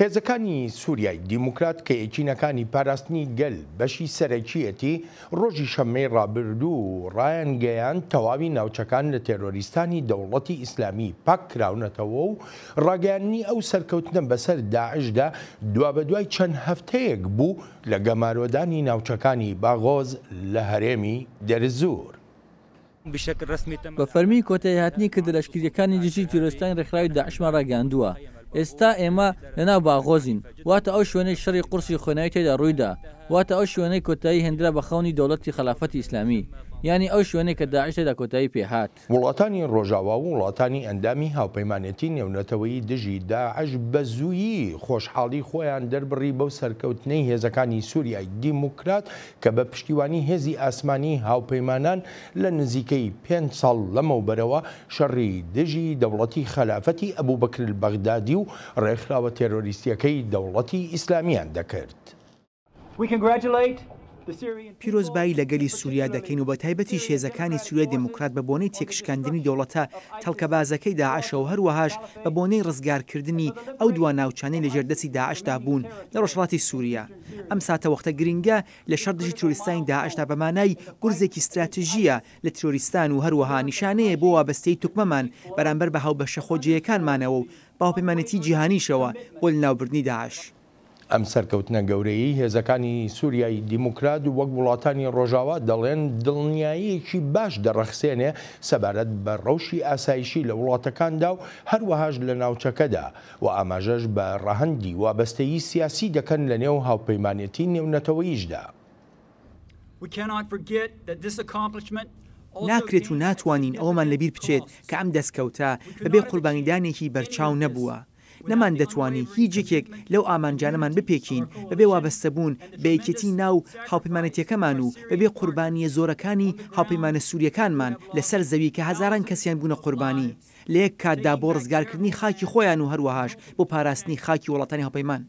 هێزەکانی سوریای دیموکرات کە یەکینەکانی پاراستنی گەل بەشی سەرەکییەتی، ڕۆژی شەممەی ڕابردوو ڕایانگەیاند تەواوی ناوچەکان لە تێرۆریستانی دەوڵەتی ئیسلامی پاککراونەتەوە و ڕاگەیاندنی ئەو سەرکەوتنە بەسەر داعشدا دوابەدوای چەند هەفتەیەک بوو لە گەمارۆدانی ناوچەکانی باغۆز لە هەرێمی دێرزور. بە فەرمی کۆتایی هاتنی کردە لەشکرییەکانی دژی تیرۆریستانی ڕێکخراوی داعشمان ڕاگەیاندووە. ئێستا ئێمە لە ناو باغۆزین، واتە ئەو شوێنەی شەڕی قورسی خۆێنەوی تێدا ڕوویدا، واتە ئەو شوێنەی کۆتایی هێندرا بە خەونی دەوڵەتی خەلافەتی ئیسلامی، یانی ئەو شوێنەی کە داعش تێدا کۆتایی پێ هات. وڵاتانی ڕۆژاوا و وڵاتانی ئەندامی هاوپەیمانێتی نێونەتەوەیی دژی داعش بە زوویی خۆشحاڵی خۆیان دەربڕی بەو سەرکەوتنەی هێزەکانی سوریای دیموکرات کە بە پشتیوانی هێزی ئاسمانی هاوپەیمانان لە نزیکەی پێنج ساڵ لەمەوبەرەوە شەڕی دژی دەوڵەتی خەلافەتی ئەبوبەکرالبەغدادی و ڕێکخراوە تێرۆریستییەکەی دەوڵەتی ئیسلامییان دەکرد. پیرۆزبایی لە گەلی سوریا دەکەین و بەتایبەتیش هێزەکانی سوریای دێموکرات بە بۆنەی تێکشکاندنی دەوڵەتە تەڵکەبازەکەی داعشە و هەروەهاش بە بۆنەی ڕزگارکردنی ئەو دوا ناوچانەی لەژێر دەستی داعشدا بوون لە ڕۆژهەڵاتی سوریا. ئەم ساتەوەختە گرنگە لە شەڕ دژی ترۆریستانی داعشدا بە مانای گورزێکی ستراتژییە لە ترۆریستان و هەروەها نیشانەیە بۆ وابەستەیی توکمەمان بەرامبەر بە هاوبەشە خۆجێیەکانمانەوە و بە هاوپەیمانێتیی جیهانیشەوە بۆ لەناوبردنی داعش. ئەم سەرکەوتنە گەورەیەی هێزەکانی سوریای دیموکرات وەک وڵاتانی ڕۆژاوا دەڵێن دڵنیاییەکی باش دەڕەخسێنێ سەبارەت بە ڕەوشی ئاسایشی لە وڵاتەکاندا و هەروەهاش لە ناوچەکەدا، و ئاماژەش بە ڕەهەندی وابەستەیی سیاسی دەکەن لە نێو هاوپەیمانێتی نێونەتەوەییشدا. ناکرێت و ناتوانین ئەوەمان لەبیر بچێت کە ئەم دەستکەوتە بەبێ قوربانیدانێکی بەرچاو نەبووە. نەماندەتوانی هیچ یەکێک لەو ئامانجانەمان بپێکین بەبێ وابەستەبوون بە یەکێتی ناو هاوپەیمانێتیەکەمان و بەبێ قوربانییە زۆرەکانی هاوپەیمانە سورییەکانمان لەسەر زەوی کە هەزاران کەسیان بوونە قوربانی لە یەک کاتدا بۆ ڕزگارکردنی خاکی خۆیان و هەروەهاش بۆ پاراستنی خاکی وڵاتانی هاوپەیمان.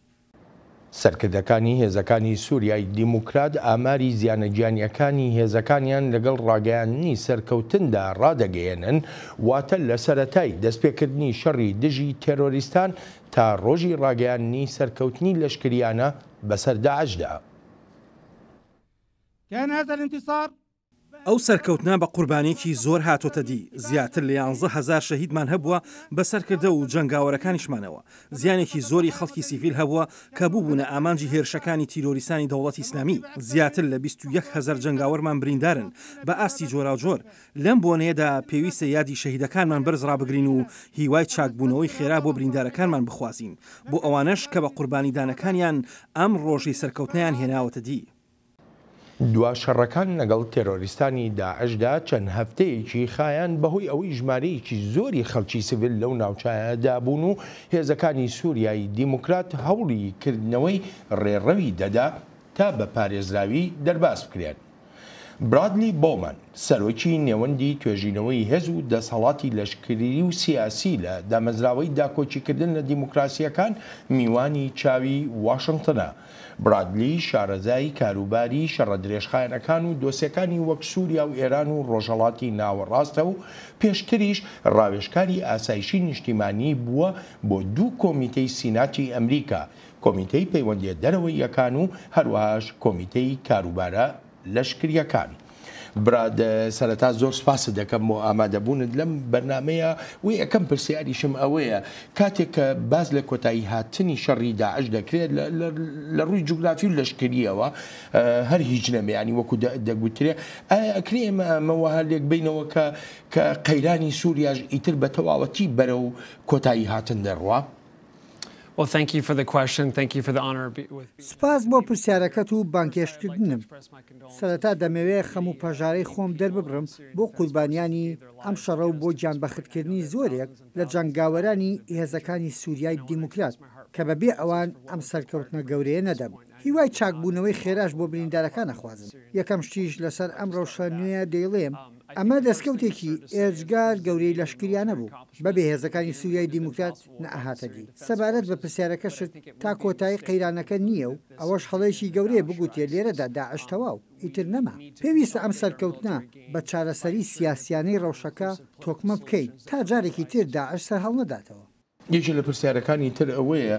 سەرکردەکانی هێزەکانی سوریای دیموکرات ئاماری زیانە گیانیەکانی هێزەکانیان لەگەڵ ڕاگەیاندنی سەرکەوتندا ڕادەگەیەنن، واتە لە سەرەتای دەستپێکردنی شەڕی دژی تێرۆریستان تا ڕۆژی ڕاگەیاندنی سەرکەوتنی لەشکریانە بەسەر داعشدا. ئەو سەرکەوتنە بە قوربانیەکی زۆر هاتۆتە دی، زیاتر لە یانزە هەزار شەهیدمان هەبووە بە سەرکردە و جەنگاوەرەکانیشمانەوە، زیانێکی زۆری خەڵکی سیڤیل هەبووە کە بووبوونە ئامانجی هێرشەکانی تیرۆریستانی دەوڵەتی ئیسلامی، زیاتر لە بیست و یەک هەزار جەنگاوەرمان بریندارن بە ئاستی جۆراوجۆر، لەم بۆنەیەدا پێویستە یادی شەهیدەکانمان بەرز ڕابگرین و هیوای چاکبوونەوەی خێرا بۆ بریندارەکانمان بخوازین، بۆ ئەوانەش کە بە قوربانیدانەکانیان ئەم ڕۆژەی سەرکەوتنەیان هێناوەتە دی. دوا شەڕەکان لەگەڵ تێرۆریستانی داعشدا چەند هەفتەیەکی خایاند بەهۆی ئەوەی ژمارەیەکی زۆری خەڵکی سڤیل لەو ناوچانەدا بوون و هێزەکانی سوریای دیموکرات هەوڵی کردنەوەی ڕێڕەوی دەدا تا بە پارێزراوی دەرباز بکرێن. برادلی بۆومەن، سەرۆکی نێوەندی توێژینەوەی هێز و دەسەڵاتی لەشکری و سیاسی لە دامەزراوەی داکۆکیکردن لە دیموکراسییەکان میوانی چاوی واشنتنە، برادلی، شارەزای کاروباری شەڕە درێژخایەنەکان و دۆسێکانی وەک سووریا و ئێران و ڕۆژهەڵاتی ناوەڕاستە و پێشتریش ڕاوێژکاری ئاسایشی نیشتیمانیی بووە بۆ دوو کۆمیتەی سیناتی ئەمریکا، کۆمیتەی پەیوەندییە دەرەوەییەکان و هەروەهاش کۆمیتەی کاروبارە لەشکریەکان. برا سەرەتا زۆر سپاست دەکەم بۆ ئامادەبوونت لەم بەرنامەیە و یەکەم پرسیاریشم ئەوەیە کاتێک کە باس لە کۆتایی هاتنی شەڕی داعش دەکرێت لە ڕووی جوگرافی و لەشکریەوە هەر هیچ نەبێ یانی وەکو دەگوترێ ئایا ئەکرێ ئێمە ئەمە وەها لێک بینەوە کە کە قەیرانی سوریاش ئیتر بە تەواوەتی بەرەو کۆتایی هاتن دەڕوا؟ سوپاس بۆ پرسیارەکەت و بانگهێشتکردنم. سەرەتا دەمەوێ خەم و پەژارەی خۆم دەرببڕم بۆ قوربانیانی ئەم شەڕە و بۆ گیانبەختکردنی زۆرێک لە جەنگاوەرانی هێزەکانی سوریای دیموکرات کە بە بێ ئەوان ئەم سەرکەوتنە گەورەیە نەدەبوو. هیوای چاکبوونەوەی خێراش بۆ بریندارەکان ئەخوازم. یەکەم شتیش لەسەر ئەم رەوشە نوێیە دەیڵێم، ئەمە دەستکەوتێکی ئێجگار گەورەی لەشکریانە بوو. بەبێ هێزەکانی سوریای دیموکرات نەئەهاتە دی. سەبارەت بە پرسیارەکەشت، تا کۆتایی قەیرانەکە نییە و ئەوەش هەڵەیەکی گەورەیە بگوترێ لێرەدا داعش تەواو، ئیتر نەما. پێویستە ئەم سەرکەوتنە بە چارەسەریی سیاسییانەی رەوشەکە تۆکمە بکەین، تا جارێکی تر داعش سەرهەڵنەداتەوە. یەکێک لە پرسیارەکانی تر ئەوەیە،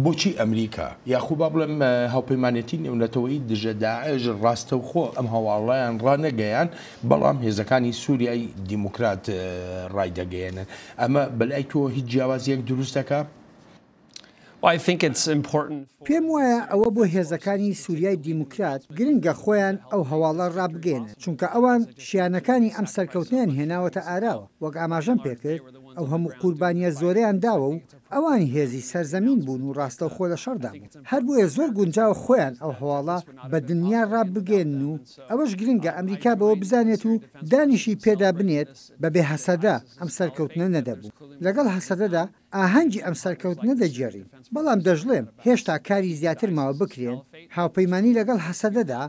بۆچی ئەمریکا، یاخۆ با بڵێم هاوپەیمانێتی نێونەتەوەیی دژە داعش راستەوخۆ ئەم هەواڵەیان رانەگەیاند، بەڵام هێزەکانی سوریای دیموکرات رایدەگەیەنن. ئەمە بەلای تۆ هیچ جیاوازیەک دروست دەکا؟ پێم وایە ئەوە بۆ هێزەکانی سوریای دیموکرات گرنگە خۆیان ئەو هەواڵە رابگەیەنن، چونکە ئەوان شیانەکانی ئەم سەرکەوتنەیان هێناوەتە ئاراوە، وەک ئاماژەم پێکرد ئەو هەموو قوربانیە زۆرەیان داوە و ئەوان هێزی سەرزەمین بوون و راستەوخۆ لە شەڕدا بوون، هەر بۆیە زۆر گونجاوە خۆیان ئەو هەواڵە بە دنیا رابگەیەنن و ئەوەش گرنگە ئەمریکا بەوە بزانێت و دانیشی پێدا بنێت، بەبێ هەسەدە ئەم سەرکەوتنە نەدەبوو. لەگەڵ هەسەدەدا ئاهەنگی ئەم سەرکەوتنە دەگێڕین. بەڵام دەشڵێم هێشتا کاری زیاتر ماوە بکرێن، هاوپەیمانی لەگەڵ هەسەدەدا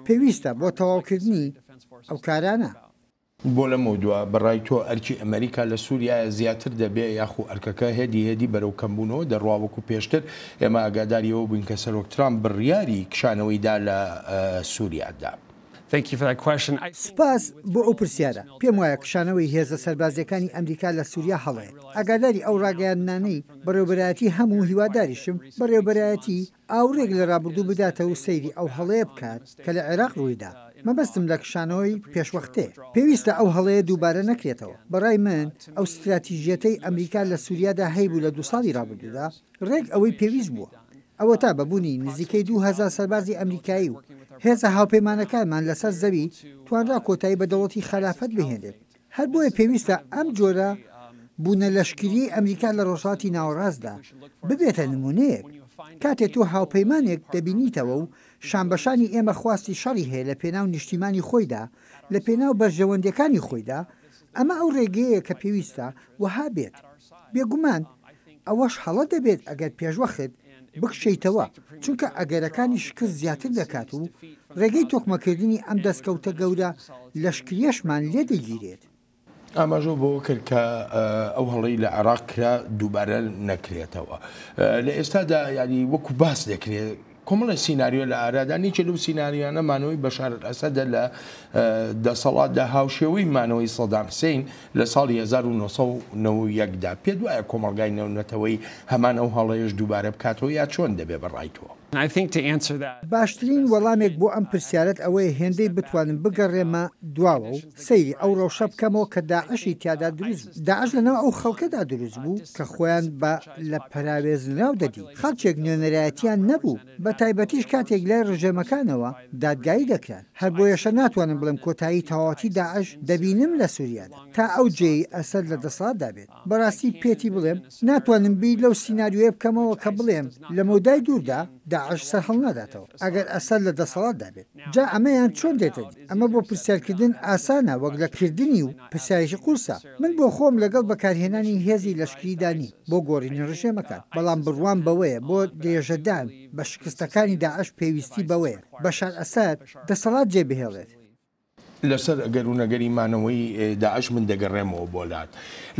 پێویستە بۆ تەواوکردنی ئەو کارانە. بۆ لەمەودوا بەڕای تۆ ئەرکی ئەمەریکا لە سوریایە زیاتر دەبێ یاخو ئەرکەکە هێدی هێدی بەرەو کەمبوونەوە دەڕوا وەکو پێشتر ئێمە ئاگاداری ئەوە بووین کە سەرۆک ترامپ بڕیاری کشانەوەی دا لە سوریادا؟ سوپاس بۆ ئەو پرسیارە. پێم وایە کشانەوەی هێزە سەربازییەکانی ئەمریکا لە سوریا هەڵەیە. ئاگاداری ئەو ڕاگەیاندنانەی بەڕێوەبەرایەتی هەم و هیواداریشم بەڕێوەبەرایەتی ئاوڕێک لە ڕابردوو بداتە و سەیری ئەو هەڵەیە بکات کە لە عێراق ڕووی دا. مەبەستم لە کشانەوەی پێشوەختەیە. پێویستە ئەو هەڵەیە دووبارە نەکرێتەوە. بە ڕای من ئەو ستراتیژییەتەی ئەمریکا لە سوریادا هەیبوو لە دوو ساڵی ڕابردوودا، ڕێک ئەوەی پێویست بووە. ئەوەتا بە بوونی نزیکەی دوو هەزار سەربازی ئەمریکایی و هێزە هاوپەیمانەکانمان لەسەر زەوی، توانرا کۆتایی بە دەوڵەتی خەلافەت بهێنرێت. هەر بۆیە پێویستە ئەم جۆرە بوونە لەشکریەی ئەمریکا لە ڕۆژهەڵاتی ناوەڕاستدا، ببێتە نموونەیەک. کاتێ تۆ هاوپەیمانێک دەبینیتەوە و شانبەشانی ئێمە خواستی شەڕی هەیە لە پێناو نیشتیمانی خۆیدا، لە پێناو بەرژەوەندیەکانی خۆیدا، ئەمە ئەو رێگەیە کە پێویستە وەها بێت. بێگومان ئەوەش هەڵە دەبێت ئەگەر پێشوەخت بکشێیتەوە، چونکە ئەگەرەکانی شکست زیاتر دەکات و رێگەی تۆکمەکردنی ئەم دەستکەوتە گەورە لەشکریەشمان لێ دەگیرێت. ئاماژەو بەوە کرد کە ئەو هەڵەی لە عێراق کرا دووبارە نەکرێتەوە. لە ئێستادا یانی وەکو باس دەکرێت کۆمەڵێ سیناریۆ لە ئارادان، یەکێ لەو سیناریۆیانە مانەوەی بەشار ئەلئەسەدە لە دەسەڵاتدا هاوشێوەی مانەوەی سەدام حسین لە ساڵی هەزار و نۆ سەد و نەوە و یەک دا. پێت وایە کۆمەڵگای نێونەتەوەیی هەمان ئەو هەڵەیەش دووبارە بکاتەوە یا چۆن دەبێ بە ڕای تۆ؟ باشترین وەڵامێک بۆ ئەم پرسیارەت ئەوەیە هێندەی بتوانم بگەڕێمە دواوە و سەیری ئەو ڕەوشە بکەمەوە کە داعشی تیادا دروست بوو. داعش لە ناو ئەو خەڵکەدا دروست بوو کە خۆیان بە لە پەراوێزنراو دەدی. خەڵکێک نوێنەرایەتیان نەبوو، بە تایبەتیش کاتێک لای ڕژێمەکانەوە دادگایی دەکران. هەر بۆیەشە ناتوانم بڵێم کۆتایی تەواوەتی داعش دەبینم لە سوریادا، تا ئەو جێی ئەسەد لە دەسەڵاتدا بێت. بەڕاستی پێتی بڵێم ناتوانم بیر لەو سیناریۆیە بکەمەوە کە بڵێم لە مەودای دووردا داعش سەرهەڵناداتەوە ئەگەر ئەسەد لە دەسەڵاتدا بێت. جا ئەمەیان چۆن دێتە دی؟ ئەمە بۆ پرسیارکردن ئاسانە وەک لە کردنی و پرسیارێکی قورسە. من بۆ خۆم لەگەڵ بەکارهێنانی هێزی لەشکریدا نیم بۆ گۆڕینی ڕژێمەکان، بەڵام بڕوام بەوەیە بۆ درێژەدان بە شکستەکانی داعش پێویستی بەوەیە بەشار ئەسەد دەسەڵات جێبهێڵێت. لەسەر ئەگەر و نەگەری مانەوەی داعش من دەگەڕێمەوە بۆ لات.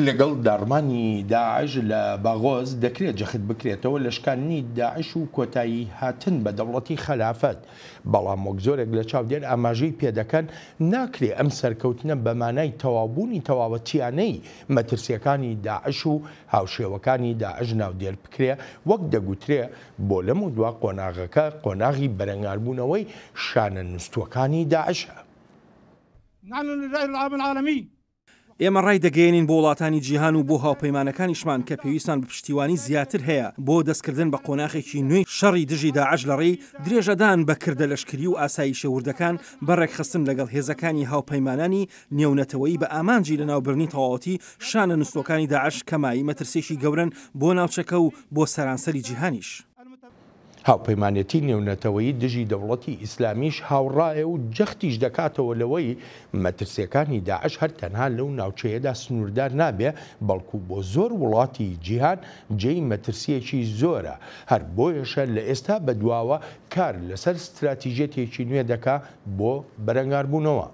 لەگەڵ داڕمانی داعش لە باغۆز دەکرێت جەخت بکرێتەوە لە شکاندنی داعش و کۆتاییهاتن بە دەوڵەتی خەلافەت. بەڵام وەک زۆرێک لە چاودێر ئاماژەی پێدەکەن، ناکرێ ئەم سەرکەوتنە بە مانای تەواوبوونی تەواوەتییانەی مەترسییەکانی داعش و هاوشێوەکانی داعش ناودێر بکرێ، وەک دەگوترێ بۆ لەمەودوا قۆناغەکە قۆناغی بەرەنگاربوونەوەی شانە نوستووەکانی داعشە. ئێمە ڕایدەگەیەنین بۆ وڵاتانی جیهان و بۆ هاوپەیمانەکانیشمان کە پێویستمان بە پشتیوانی زیاتر هەیە بۆ دەستکردن بە قۆناخێکی نوێی شەڕی دژی داعش لە ڕێی درێژەدان بە کردە لەشکری و ئاسایشە وردەکان بە ڕێکخستن لەگەڵ هێزەکانی هاوپەیمانانی نێونەتەوەیی بە ئامانجی لەناوبردنی تەواوەتی شانە نوستووەکانی داعش کە مایەی مەترسییەکی گەورەن بۆ ناوچەکە و بۆ سەرانسەری جیهانیش. هاوپەیمانێتی نێونەتەوەیی دژی دەوڵەتی ئیسلامیش هاوڕایە و جەختیش دەکاتەوە لەوەی مەترسییەکانی داعش هەر تەنها لەو ناوچەیەدا سنووردار نابێ بەڵکو بۆ زۆر وڵاتی جیهان جێی مەترسییەکی زۆرە هەر بۆیەشە لە ئێستا بەدواوە کار لەسەر ستراتیژیەتێکی نوێ دەکا بۆ بەرەنگاربوونەوە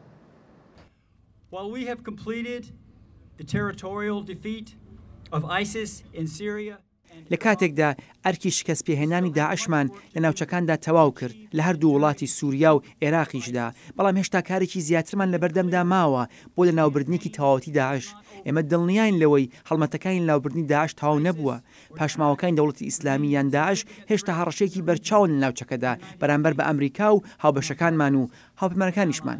لە کاتێکدا ئەرکی شکەستپێهێنانی داعشمان لە ناوچەکاندا تەواو کرد، لە هەردوو وڵاتی سوریا و ئێراقیشدا، بەڵام هێشتا کارێکی زیاترمان لەبەردەمدا ماوە بۆ لەناوبردنێکی تەواوەتی داعش. ئێمە دڵنیاین لەوەی هەڵمەتەکانی لەناوبردنی داعش تەواو نەبووە. پاشماوەکانی دەوڵەتی ئیسلامی یان داعش هێشتا هەڕەشەیەکی بەرچاون لە ناوچەکەدا بەرامبەر بە ئەمریکا و هاوبەشەکانمان و هاوپەیمانەکانیشمان.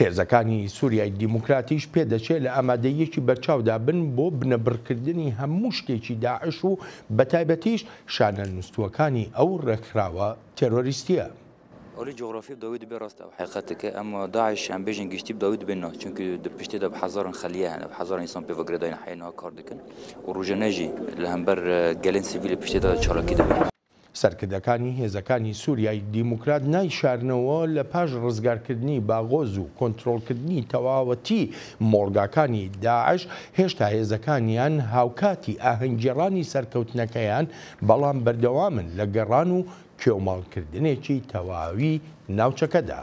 هێزەکانی سوریای دیموکراتیش پێدەچێت لە ئامادەییەکی بەرچاودا بن بۆ بنەبڕکردنی هەموو شتێکی داعش و بەتایبەتیش شانە نوستووەکانی ئەو ڕێکخراوە تێرۆریستییە. ئەلی جوغرافی داوی دبێ ڕاست ئەو حەیقەتە ک ئەم داعش یان بێژن گشتی ب داوی دبێ نا چونک دە پشتێ دا ب حەزارن خەلیە هەنە ب حەزارن ئیسان پێ ڤگرە داین حەیە نها کار دکن و ڕوژە نەژی لە هەمبەر گەلێن سڤیلێ پشتێ دا چالاکی دبێ. سەرکردەکانی هێزەکانی سوریای دیموکرات نایشارنەوە لە پاش ڕزگارکردنی باغۆز و کۆنترۆڵکردنی تەواوەتی مۆڵگاکانی داعش هێشتا هێزەکانیان هاوکاتی ئاهەنگگێڕانی سەرکەوتنەکەیان بەڵام بەردەوامن لە گەڕان و کێوماڵکردنێکی تەواوی ناوچەکەدا.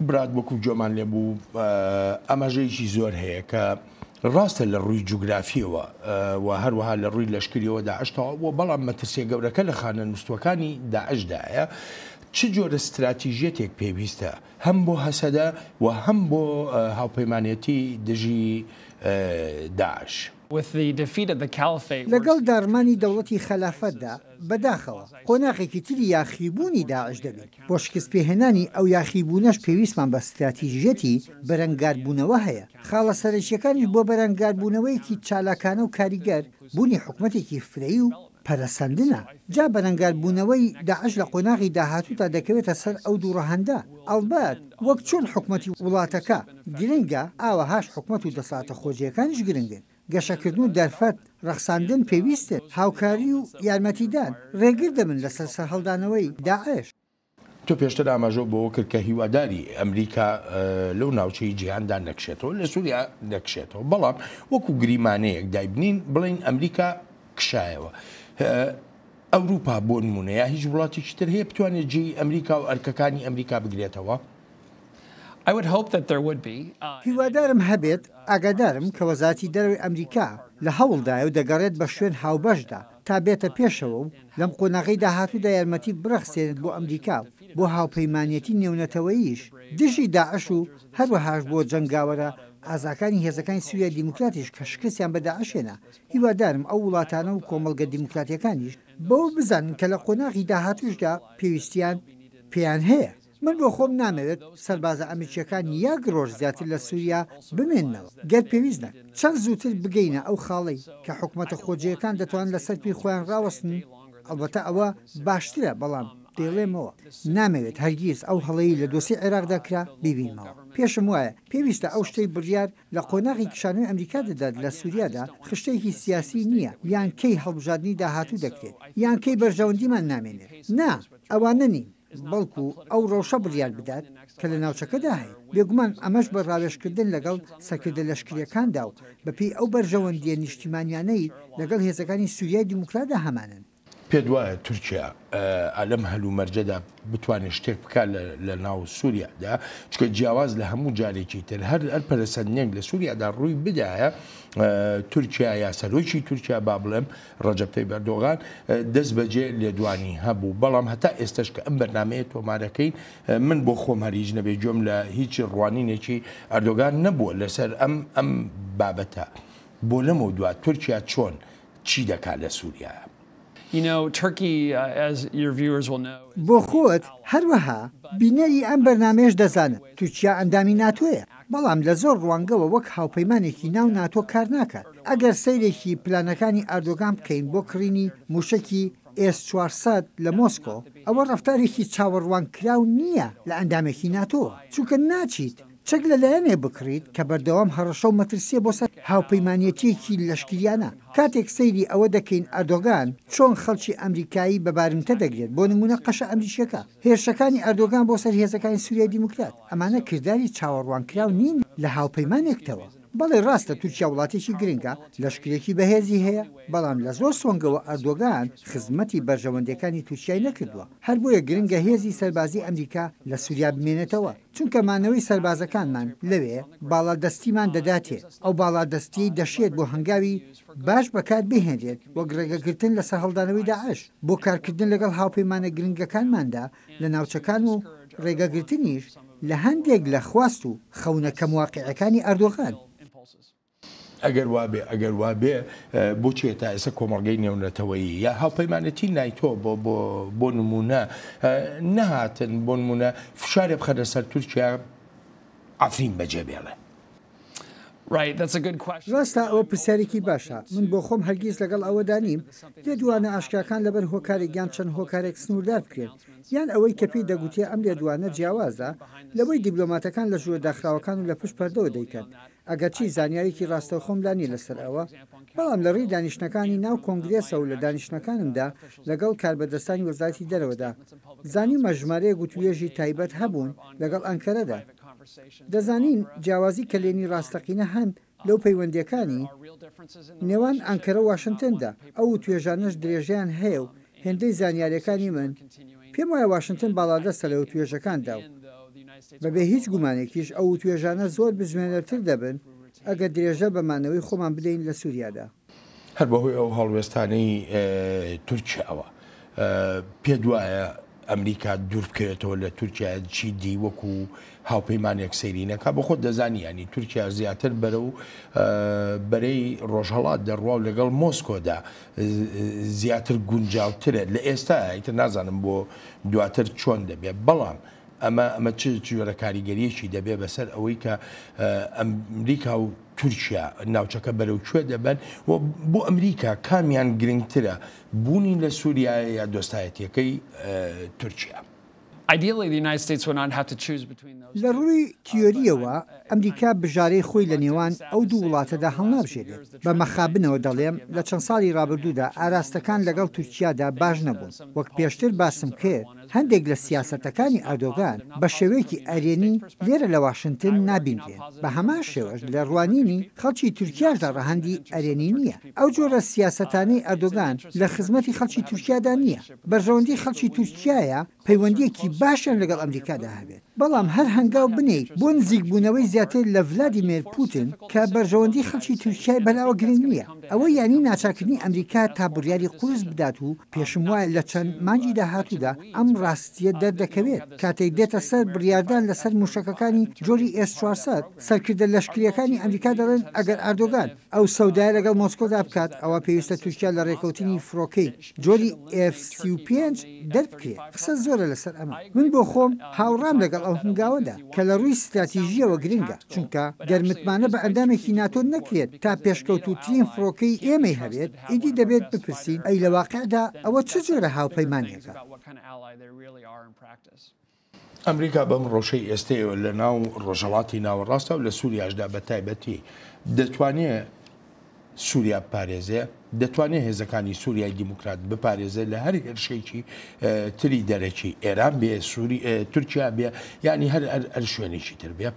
برات وەکو گوێمان لێ بوو ئاماژەیەکی زۆر هەیە کە ڕاستە لە ڕووی جوگرافیەوە و هەروەها لە ڕووی لەشکریەوە داعشتەوە بۆ بەڵام مەترسیە گەورەکە لە خانە نووسوەکانی داعشدایە چ جۆرە استراتیژیەتێک پێویستە هەم بۆ هەسەدە و هەم بۆ هاوپەیمانەتی دژی داعش. لەگەڵ داڕمانی دەوڵەتی خەلافەتدا، بەداخەوە قۆناغێکی تری یاخیبوونی داعش دەبین، بۆ شکستپێهێنانی ئەو یاخیبوونەش پێویستمان بە ستراتیژیەتی بەرەنگاربوونەوە هەیە، خاڵە سەرەکیەکانیش بۆ بەرەنگاربوونەوەیەکی چالاکانە و کاریگەر، بوونی حکومەتێکی فرەیی و پەرەسەندنە، جا بەرەنگاربوونەوەی داعش لە قۆناغی داهاتوودا دەکەوێتە سەر ئەو دوو ڕەهەندە، ئەڵبەت وەک چۆن حکومەتی وڵاتەکە گرنگە، ئاوەهاش حکومەت و دەسەڵاتە خۆجێیەکانیش گرنگن. گەشەکردن و دەرفەت ڕەخساندن پێویستن، هاوکاری و یارمەتیدان ڕێگر دەبن لەسەر سەرهەڵدانەوەی داعش. تۆ پێشتر ئاماژەت بەوە کرد کە هیواداری ئەمریکا لەو ناوچەی جیهاندا نەکشێتەوە، لە سووریا نەکشێتەوە، بەڵام وەکو گریمانەیەک دایبنین بڵێین ئەمریکا کشایەوە، ئەوروپا بۆ نموونە یا هیچ وڵاتێکی تر هەیە بتوانێت جێی ئەمریکا و ئەرکەکانی ئەمریکا بگرێتەوە؟ هیوادارم هەبێت، ئاگادارم کە وەزارەتی دەرەوەی ئەمریکا لە هەوڵدایە و دەگەڕێت بە شوێن هاوبەشدا تا بێتە پێشەوە و لەم قۆناغەی داهاتوودا یارمەتی بڕەخسێنێت بۆ ئەمریکا و بۆ هاوپەیمانیەتی نێونەتەوەییش دژی داعش و هەروەهاش بۆ جەنگاوەرە ئازاکانی هێزەکانی سوریای دیموکراتیش کە شکستیان بە داعش هێنا، هیوادارم ئەو وڵاتانە و کۆمەڵگە دیموکراتیەکانیش بەوە بزانن کە لە قۆناغی داهاتووشدا پێویستیان پێیان هەیە. من بۆ خۆم نامەوێت سەربازە ئەمریکییەکان یەک ڕۆژ زیاتر لە سووریا بمێننەوە، گەر پێویست نەک چەند زووتر بگەینە ئەو خاڵەی کە حکومەتە خۆجێیەکان دەتوانن لەسەر پێی خۆیان ڕاوەستن، ئەڵبەتە ئەوە باشترە، بەڵام دەیڵێمەوە نامەوێت هەرگیز ئەو هەڵەی لە دۆسێی عێراقدا کرا بیبینمەوە. پێشم وایە پێویستە ئەو شتەی بڕیار لە قۆناغی کشانەوەی ئەمریکا دەدات لە سووریادا خشتەیەکی سیاسی نییە یان کەی هەڵبژاردنی داهاتوو دەکرێت یان کەی بەرژەوەندیمان نامێنێت. نا، ئەوانە نین. بەڵکو ئەو ڕەوشە بڕیار بدات کە لە ناوچەکەدا هەیە، بێگومان ئەمەش بە ڕاوێژکردن لەگەڵ سەرکردە لەشکرییەکاندا و بەپێی ئەو بەرژەوەندییە نیشتیمانیانەی لەگەڵ هێزەکانی سوریای دیموکراتدا هەمانن. پێتوایە تورکیا لەم هەلومەرجەدا بتوانێت شتێک بکات لەناو سوریادا؟ چونکە جیاواز لە هەموو جارێکی تر هەر پەرەسەندنێک لە سوریادا ڕووی بدایە تورکیا یا سەرۆکی تورکیا با بڵێم ڕەجەب تەیب ئەردۆغان دەست بەجێ لێدوانی هەبوو، بەڵام هەتا ئێستەش کە ئەم بەرنامەیە تۆمارەکەین، من بۆ خۆم هەر هیچ نەبێ گوێم لە هیچ ڕوانینێکی ئەردۆغان نەبووە لەسەر ئەم ئەم بابەتە. بۆ لەمەودوا تورکیا چۆن چی دەکات لە سوریایە؟ بۆ خۆت هەروەها بینەری ئەم بەرنامەیەش دەزانن، تورکیا ئەندامی ناتۆیە. بەڵام لە زۆر ڕوانگەوە وەک هاوپەیمانێکی ناو ناتۆ کار ناکات. ئەگەر سەیرێکی پلانەکانی ئەردۆگان بکەین بۆ کڕینی مووشەکی ئێس چوار سەد لە مۆسکۆ، ئەوە ڕەفتارێکی چاوەڕوانکراو نییە لە ئەندامێکی ناتۆ، چونکە ناچیت چەک لە لایەنێک بکڕیت کە بەردەوام هەڕەشە و مەترسییە بۆ سەر هاوپەیمانێتییەکی لەشکریانە. کاتێک سەیری ئەوە دەکەین ئەردۆگان چۆن خەڵکی ئەمریکایی بە بارمتە دەگرێت، بۆ نموونە قەشە ئەمریکییەکە، هێرشەکانی ئەردۆگان بۆ سەر هێزەکانی سوریای دیموکرات، ئەمانە کرداری چاوەڕوانکراو نین لە هاوپەیمانێکتەوە. بەڵێ ڕاستە تورکیا وڵاتێکی گرنگە، لەشکرێکی بەهێزی هەیە، بەڵام لە زۆر سۆنگەوە ئەردۆگان خزمەتی بەرژەوەندیەکانی تورکیای نەکردوە، هەر بۆیە گرنگە هێزی سەربازی ئەمریکا لە سوریا بمێنێتەوە، چونکە مانەوەی سەربازەکانمان لەوێ باڵادەستیمان دەداتێ، ئەو باڵادەستیەی دەشێت بۆ هەنگاوی باش بەکاربهێنرێت وەک ڕێگەگرتن لە سەرهەڵدانەوەی داعش، بۆ کارکردن لەگەڵ هاوپەیمانە گرنگەکانماندا لە ناوچەکان و ڕێگەگرتنیش لە هەندێک لە خواست و خەونە کەم واقیعەکانی ئەردۆغان. ئەگەر وابێ ئەگەر وابێ بۆچیە تا ئێستا کۆمەڵگەی نێونەتەوەیی یا هاوپەیمانێتی نایتۆ بۆ نموونە نەهاتن بۆ نموونە فشارێ بخەنە سەر تورکیا عەفرین بەجێ بێڵێ؟ ڕاستە ئەوە پرسیارێکی باشە. من بۆ خۆم هەرگیز لەگەڵ ئەوەدا نیم لێدوانە ئاشکراکان لەبەر هۆکارێک یان چەند هۆکارێک سنووردار بکرێن، یان ئەوەی کە پێی دەگوترێ ئەم لێدوانە جیاوازە لەوەی دیبلۆماتەکان لە ژوورە داخراوەکان و لە پشت پەردەوە دەیکەن، ئەگەرچی زانیاریی ڕاستەوخۆم لا نییە لەسەر ئەوە، بەڵام لە ڕێی دانیشتنەکانی ناو کۆنگرێسە و لە دانیشتنەکانمدا لەگەڵ کاربەدەستانی وەزارەتی دەرەوەدا زانیومە ژمارەیەک وتووێژی تایبەت هەبوون لەگەڵ ئەنکەرەدا. دەزانین جیاوازی کەلێنی ڕاستەقینە هەن لەو پەیوەندییەکانی نێوان ئانکەرە و واشنتندا، ئەو توێژانەش درێژەیان هەیە و هێندەی زانیارییەکانی من پێم وایە واشنتن باڵادەستە لە وتوێژەکاندا و بەبێ هیچ گومانێکیش ئەو وتوێژانە زۆر بزوێنەرتر دەبن ئەگەر درێژە بە مانەوەی خۆمان بدەین لە سوریادا. هەر بەهۆی ئەو هەڵوێستانەی تورکیاوە پێت وایە ئەمریکا دوور بکەوێتەوە لە تورکیا چی دی وەکو هاوپەیمانێک سەیری نەکا بە خۆت دەزانی ینی تورکیا زیاتر بەرە و بەرەی ڕۆژهڵات دەڕوا و لەگەڵ مۆسکۆدا زیاتر گونجاوترە لە ئێستا ئیتر نازانم بۆ دواتر چۆن دەبێت بەڵام ئەمە ئەمە چ جۆرە کاریگەریەکی دەبێت بەسەر ئەوەی کە ئەمریکا و تورکیا ناوچەکە بەرەو کوێ دەبەن و بۆ ئەمریکا کامیان گرنگترە، بوونی لە سوریایە یا دۆستایەتییەکەی تورکیا؟ لە ڕووی تیۆرییەوە ئەمریکا بژارەی خۆی لە نێوان ئەو دوو وڵاتەدا هەڵنابژێرێت، بە مەخابنەوە دەڵێم لە چەند ساڵی ڕابردوودا ئاراستەکان لەگەڵ تورکیادا باش نەبوون، وەک پێشتر باسم کرد، هەندێک لە سیاسەتەکانی ئەردۆگان بە شێوەیەکی ئەرێنی لێرە لە واشنتن نابیندرێن، بە هەمان شێوەش لە ڕوانینی خەڵکی تورکیاشدا ڕەهەندی ئەرێنی نییە. ئەو جۆرە سیاسەتانەی ئەردۆگان لە خزمەتی خەڵکی تورکیادا نییە. بەرژەوەندی خەڵکی تورکیایە پەیوەندییەکی باشیان لەگەڵ ئەمریکادا هەبێت. بەڵام هەر هەنگاو بنێیت بۆ نزیکبوونەوەی زیاتر لە ڤلادیمێر پوتن کە بەرژەوەندی خەڵکی تورکیای بەلاوە گرنگ نییە، ئەوە یانی ناچارکردنی ئەمریکا تا بڕیاری قورس بدات و پێشموایە لە چەند مانگی داهاتوودا ئەم ڕاستییە دەردەکەوێت کاتێک دێتە سەر بڕیاردان لەسەر موشەکەکانی جۆری ئێس چوار سەد، سەرکردە لەشکرییەکانی ئەمریکا دەڵێن ئەگەر ئاردۆگان ئەو سەودایە لەگەڵ مۆسکۆدا بکات ئەوا پێویستە تورکیا لە ڕێکەوتنی فڕۆکەی. جۆری ئێف سی و پێنج دەربکرێت قسە زۆرە لەسەر ئەمە من بۆ خۆم هاوڕام لەگەڵ ئەو هەنگاوەدا کە لە ڕووی ستراتیژییەوە گرنگە چونکە گەر متمانە بە ئەندامێکی ناتۆ نەکرێت تا پێشکەوتووترین فڕۆکەی ئێمەی هەبێت ئیدی دەبێت بپرسین ئەی لە واقعدا ئەوە چ جۆرە هاوپەیمانێکە؟ ئەمریکا بەم ڕەوشەی ئێستەیەوە لە ناو ڕۆژهەڵاتی ناوەڕاستە و لە سووریاشدا بە تایبەتی دەتوانێ سووریا بپارێزێ، دەتوانێ هێزەکانی سووریای دیموکرات بپارێزێ لە هەر هێرشێکی تری دەرەکی، ئێران بێ، تورکیا بێ، یانی هەر هەر شوێنێکی تر بێ.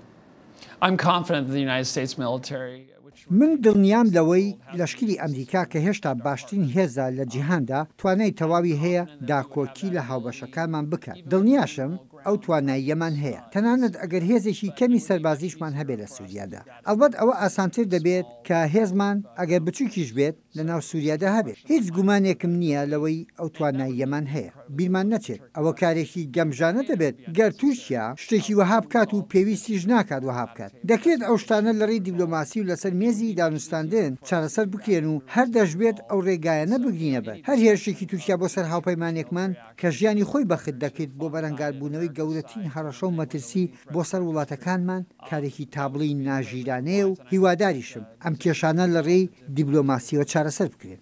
من دڵنیام لەوەی لەشکری ئەمریکا کە هێشتا باشترین هێزە لە جیهاندا، توانای تەواوی هەیە داکۆکی لە هاوبەشەکانمان بکات. دڵنیاشم ئەو تواناییەمان هەیە، تەنانەت ئەگەر هێزێکی کەمی سەربازیشمان هەبێت لە سوریادا. ئەڵبەت ئەوە ئاسانتر دەبێت کە هێزمان ئەگەر بچووکیش بێت، لە ناو سوریادا هەبێت، هیچ گومانێکم نییە لەوەی ئەو تواناییەمان هەیە بیرمان نەچێت، ئەوە کارێکی گەمژانە دەبێت گەر تورکیا شتێکی وەها بکات و پێویستیش ناکات وەها بکات، دەکرێت ئەو شتانە لەڕێی دیبلۆماسی و لەسەر مێزی دانوستاندن چارەسەر بکرێن و هەر دەشبێت ئەو رێگایانە بگرینە بەر، هەر هێرشێکی تورکیا بۆ سەر هاوپەیمانێکمان کە ژیانی خۆی بەخت دەکرد بۆ بەرەنگاربوونەوەی گەورەترین هەڕەشە و مەترسی بۆ سەر وڵاتەکانمان کارێکی تابڵێی ناژیرانەیە و هیواداریشم ئەم کێشانە لەڕێی دیبلۆماسییەوە چارەسەر بکرێن.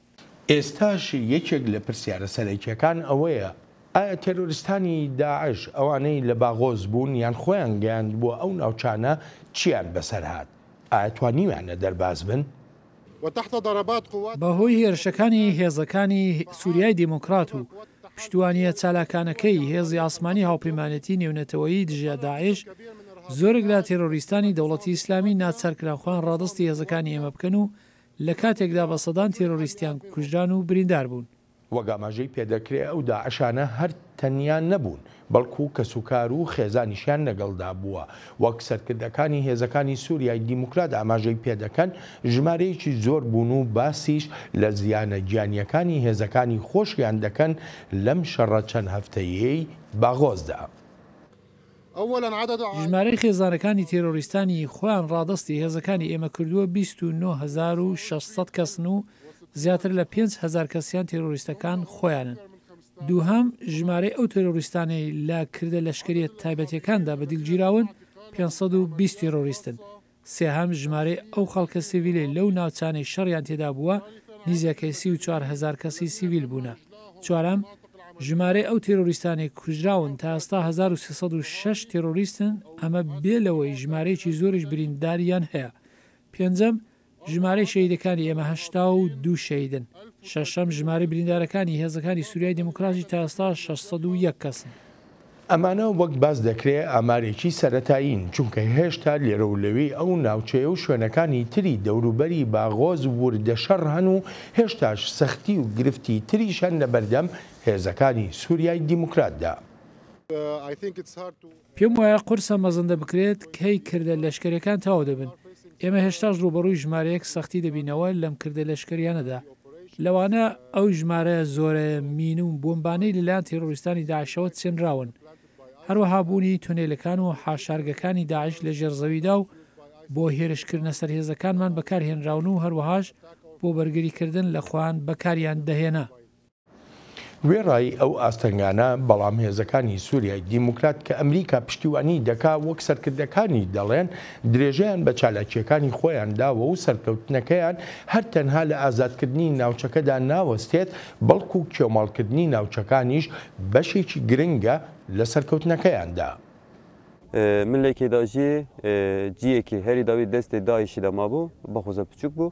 ئێستاش یەکێک لە پرسیارە سەرەکییەکان ئەوەیە، ئایا تێرۆریستانی داعش، ئەوانەی لە باغۆز بوون یان خۆیان گەیاندبووە ئەو ناوچانە چییان بەسەر هات؟ ئایا توانیویانە دەرباز بن؟ بەهۆی هێرشەکانی هێزەکانی سوریای دیموکرات و پشتیوانییە چالاکانەکەی هێزی ئاسمانی هاوپەیمانێتی نێونەتەوەیی دژە داعش، زۆرێک لە تێرۆریستانی دەوڵەتی ئیسلامی ناچارکران خۆیان ڕادەستی هێزەکانی ئێمە بکەن و لە کاتێکدا بە سەدان تێرۆریستیان کوژران و برینداربوون. وەک ئاماژەی پێدەکرێ ئەو داعشانە هەر تەنیا نەبوون بەڵکو کەسوکار و خێزانیشیان لەگەڵدا بووە. وەک سەرکردەکانی هێزەکانی سوریای دیموکرات ئاماژەی پێدەکەن، ژمارەیەکی زۆر بوون و باسیش لە زیانە گیانییەکانی هێزەکانی خۆشیان دەکەن لەم شەڕە چەند هەفتەیەی باغۆزدا. ژمارەی خێزانەکانی تێرۆریستانی خۆیان ڕادەستی هێزەکانی ئێمە کردووە بیست و نۆ هەزار و شەش سەد کەسن و زیاتر لە پێنج هەزار کەسیان تێرۆریستەکان خۆیانن. دووهەم، ژمارەی ئەو تێرۆریستانەی لە کردە لەشکریە تایبەتیەکاندا بە دیل گیراون پێنج سەد و بیست تێرۆریستن. سێهەم، ژمارەی ئەو خەڵکە سیڤیلەی لەو ناوچانەی شەڕیان تێدا بووە نیزەکەی سی و چوار هەزار کەسی سیڤیل بوونە. چوارەم، ژمارەی ئەو تێرۆریستانەی کوژراون تا ئێستا هەزار و سێ سەد و شەش تێرۆریستن، ئەمە بێ لەوەی ژمارەیەکی زۆریش برینداریان هەیە. پێنجەم، ژمارەی شەهیدەکانی ئێمە هەشتا و دوو شەهیدن. شەشەم، ژمارەی بریندارەکانی هێزەکانی سوریای دیموکراتی تا ئێستا شەش سەد و یەک کەسن. ئەمانە وەک باس دەکرێ ئامارێکی سەرەتایین، چونکە هێشتا لێرە و لەوێی ئەو ناوچەیە و شوێنەکانی تری دەوروبەری باغۆز وردە شەڕ هەن و هێشتاش سەختی و گرفتی تریش هەن لەبەردەم هێزەکانی سوریای دیموکراتدا. پێم وایە قورسە مەزەندە بکرێت کەی کردە لەشکەرەکان تەواو دەبن، ئێمە هێشتاش ڕووبەڕووی ژمارەیەک سەختی دەبینەوە لەم کردە لەشکەریانەدا، لەوانە ئەو ژمارە زۆرە مین و بۆمبانەی لەلایەن تێرۆریستانی داعشەوە چنراون، هەروەها بوونی تونێلەکان و حاشارگەکانی داعش لە ژێرزەویدا و بۆ هێرشکردنە سەر هێزەکانمان بەکارهێنراون و هەروەهاش بۆ بەرگریکردن لە خۆیان بەکاریان دەهێنا. وێڕای ئەو ئاستەنگانە، بەڵام هێزەکانی سوریای دیموکرات کە ئەمریکا پشتیوانیی دەکا، وەک سەرکردەکانی دەڵێن، درێژەیان بە چالاکییەکانی خۆیان داوە و سەرکەوتنەکەیان هەر تەنها لە ئازادکردنی ناوچەکەدا ناوەستێت، بەڵکو کێوماڵکردنی ناوچەکانیش بەشێکی گرنگە لە سەرکەوتنەکەیاندا. ملێکێ دا ژیێ جیێکێ هەرێ دا وێ دەستێ داێشێ دا مابوو، بەخوزە پچووک بوو.